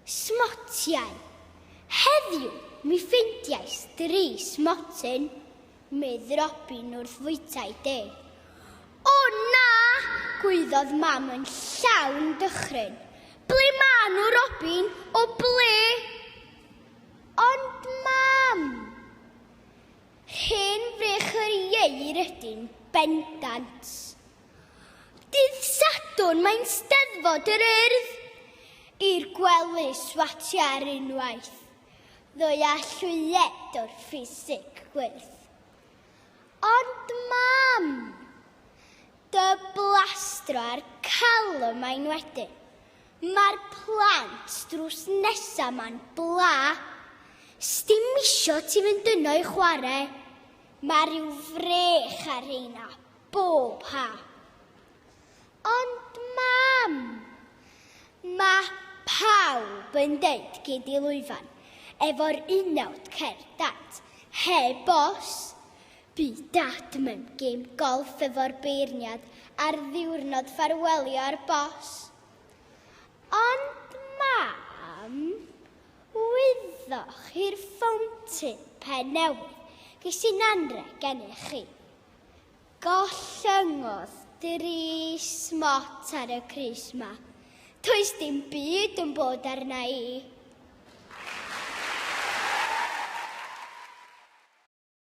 Smotiau. Heddiw mi ffeindiais dri smotyn, medd Robin wrth fwytai de. O na! gwaeddodd mam yn llawn dychryn. Ble ma nhw, Robin? O ble? Ond mam! Rhen frych yr ieir ydyn bendant. Dydd Sadwrn mae'n Steddfod yr Urdd i'r gwely swatio ar unwaith, ddoe a llwyed o'r ffisig gwyrdd. Ond mam! Dy blastro a'r calon mae'n wedyn. Mae'r plant drws nesa ma'n bla. Sdim isio ti fynd yno i chwarae. Mae rhyw frech ar rheina. Bob ha! Ond Mam! Mae pawb yn deud gei di lwyfan efo'r unawd cer Dad, heb os! Bu Dad mewn gêm golff efo'r beirniad ar ddiwrnod ffarwelio ar bos. Ond Mam! Wyddoch chi'r fountain pen newydd ges i'n anrheg gennych chi? Gollyngodd dri smot ar y crys ma. Toes dim byd yn bod arna i.